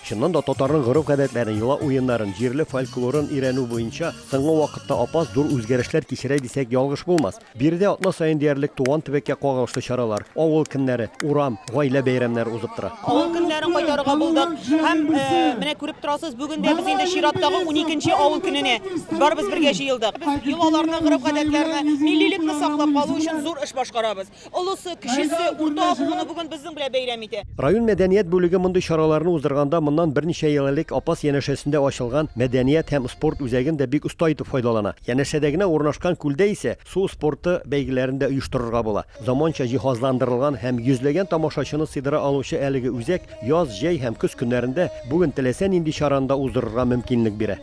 Чыннан да татарның гореф-гадәтләрен, йола уеннарын, җирле фольклорын өйрәнү буенча соңгы вакытта апас зур үзгәрешләр кичерә дисәк ялгыш булмас. Биредә атна саен диярлек туган төбәккә кагылышлы чаралар, авыл көннәре, урам, гаилә бәйрәмнәре узып тора. Авыл көннәрен кайтарырга булдык һәм менә күреп торасыз, бүген дә без инде чираттагы уникенче авыл көненә барыбыз бергә җыелдык. Без йолаларны, гореф-гадәтләрне, миллилекне саклап калу өчен зур эш башкарабыз. Олысы, кечесе, урта буыны бүген безнең белән бәйрәм итә. Район мәдәният бүлеге мондый чараларны уздырганда моннан берничә ел элек Апас янәшәсендә ачылган мәдәният һәм спорт үзәген дә бик оста итеп файдалана. Янәшәдә генә урнашкан күлдә исә су спорты бәйгеләрен дә оештырырга була. Заманча җиһазландырылган һәм йөзләгән тамашачыны сыйдыра алучы әлеге үзәк яз, җәй һәм көз көннәрендә бүген теләсә нинди чараны да уздырырга мөмкинлек бирә.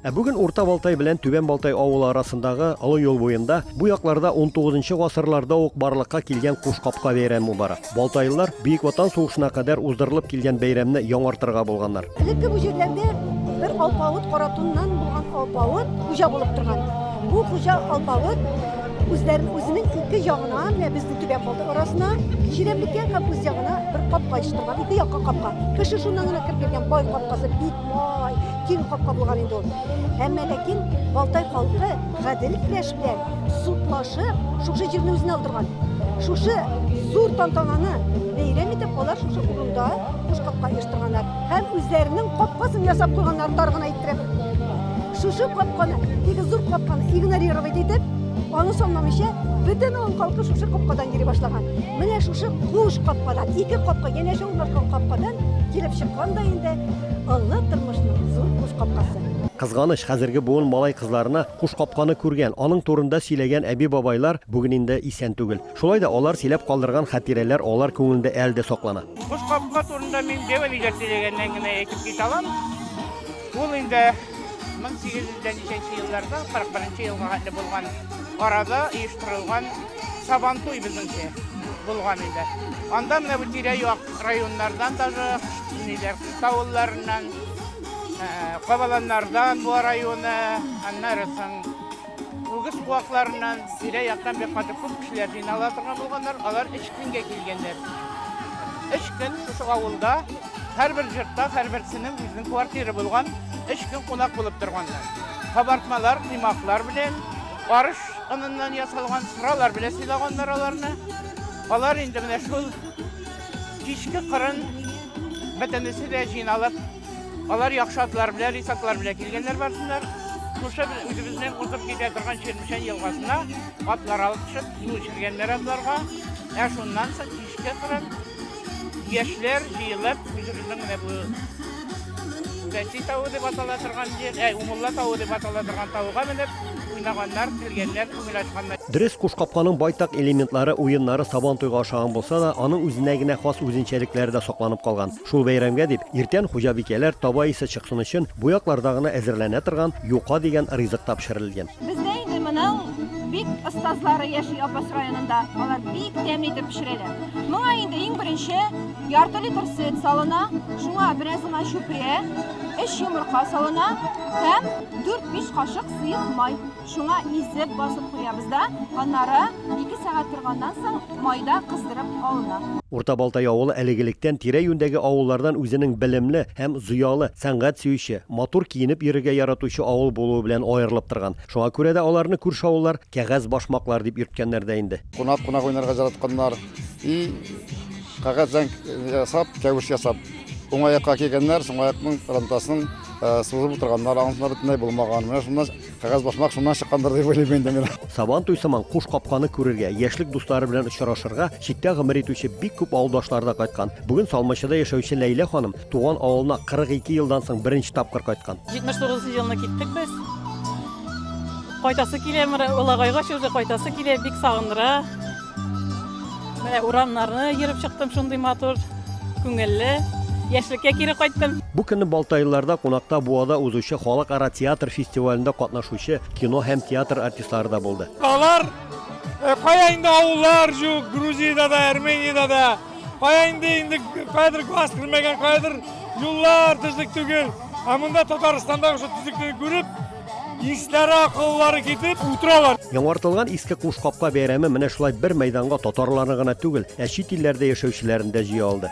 Ә бүген Урта Балтай белән Түбән Балтай авылы арасындагы олы юл буенда бу якларда 19 гасырларда ук барлыкка килгән куш капка бәйрәме бара. Балтайлылар Бөек Ватан сугышына кадәр уздырылып килгән бәйрәмне яңартырга булганнар. Элекке бу җирләрдә бер алпавыт каратуннан булган алпавыт хуҗа булып торган. Бу хуҗа алпавыт Үзләрен үзенең ике ягына, менә безнең түбән болдыр арасына, чирәмлеккә һәм үз ягына бер капка ачтырган, ике якка капка. Кеше шуннан гына кереп кергән бай капкасы бик бай, киң капка булган инде ул. Әмма ләкин Балтай халкы гадел көрәш белән судлашып, шушы җирне үзенә алдырган. Шушы зур тантананы бәйрәм итеп алар шушы урында куш капка оештырганнар һәм үзләренең капкасын ясап куйганнар тар гына Шушы капканы, бик зур капканы игнорировать итеп, аны санламыйча, бөтен авыл халкы шушы капкадан йөри башлаган. Менә шушы куш капкадан, ике капка, янәшә урнашкан капкадан килеп чыккан да инде олы тормышның зур куш капкасы. Кызганыч, хәзерге буын малай-кызларына куш капканы күргән, аның турында сөйләгән әби-бабайлар бүген инде исән түгел. Шулай да алар сөйләп калдырган хатирәләр алар күңелендә әле дә саклана. Боз капка турында мин Бева Лига сөйләгәннән генә әйтеп китә алам. Ул инде 1800 дә ничәнче елларда, 41 нче елга хәтле булган арада оештырылган Сабантуй безнеңчә булган иде. Анда менә бу тирә-як районнардан даже, ниләр, Кыш авылларыннан, Кабаланнардан, Буа районы, аннары соң, Үгез куакларыннан, тирә-яктан бик каты күп кешеләр җыйнала торган булганнар, алар өч көнгә килгәннәр. Өч көн шушы авылда, һәрбер җортта, һәрберсенең үзенең квартиры булган, өч көн кунак булып торганнар. Кабартмалар, коймаклар белән, арыш оныннан ясалган сыралар белән сыйлаганнар аларны. Алар инде менә шул кичке кырын бөтенесе дә җыйналып, Алар яхшы атлар белән, рисаклар белән килгәннәр барсыннар. Шушы без үзебезнең узып китә торган Чермешән елгасына атлар алып төшеп, су эчергәннәр атларга. Ә шуннан соң кичке кырын яшьләр җыелып, үзебезнең менә бу Бәти тавы дип атала торган җир, ә Умулла тавы дип атала торган тавга менеп, уйнаганнар, килгәннәр, күңел ачканнар. Дөрес, куш капканың байтак элементлары, уеннары Сабантуйга ошаган булса да, аның үзенә генә хас үзенчәлекләре дә сакланып калган. Шул бәйрәмгә дип, иртән хуҗабикәләр таба исе чыксын өчен, бу якларда гына әзерләнә торган юка дигән ризык та пешерелгән. Бездә инде моның бик остазлары яши Апас районында, алар бик тәмле итеп пешерәләр. Моңа инде иң беренче ярты литр сөт салына, шуңа бераз гына чүпрә, өч йомырка салына һәм дүрт-биш кашык сыек май. Шуңа изеп, басып куябыз да, аннары ике сәгать торганнан соң майда кыздырып алына. Урта Балтай авылы әлегелектән тирә-юньдәге авыллардан үзенең белемле һәм зыялы, сәнгать сөюче, матур киенеп йөрергә яратучы авыл булуы белән аерылып торган. Шуңа күрә дә аларны күрше авыллар Кәгазь башмаклар дип йөрткәннәр дә инде. Кунак кунак уйнарга жаратканнар. И кәгазь зәңк ясап, кәвеш ясап, уң аякка кигәннәр, сул аякның рантасын сузып утырганнар, анысына бөтенләй булмаган. Менә шуннан Кәгазь басмак шуннан чыккандыр дип уйлыйм инде мин. Сабантуй сыман куш капканы күрергә, яшьлек дуслары белән очрашырга читтә гомер итүче бик күп авылдашлары да кайткан. Бүген Салмачыда яшәүче Ләйлә ханым туган авылына 42 елдан соң беренче тапкыр кайткан. 79 нчы елны киттек без. Кайтасы килә, менә Улагайга чү, кайтасы килә, бик сагындыра. Менә урамнарны йөреп чыктым, шундый матур, күңелле. Яшьлеккә кире кайттым. Бу көнне Балтайлыларда кунакта Буада узучы халыкара театр фестивалендә катнашучы кино һәм театр артистлары да булды. Алар кая инде авыллар җук, Грузиядә дә, Армениядә дә. Кая инде инде каядыр газ кермәгән, каядыр юллар төзек түгел. Ә монда Татарстандагы шул төзеклекне күреп, Ишләре акыллары китеп утыралар. Яңартылган иске куш капка бәйрәме менә шулай бер мәйданга татарларны гына түгел, ә чит илләрдә яшәүчеләрен дә җыя алды.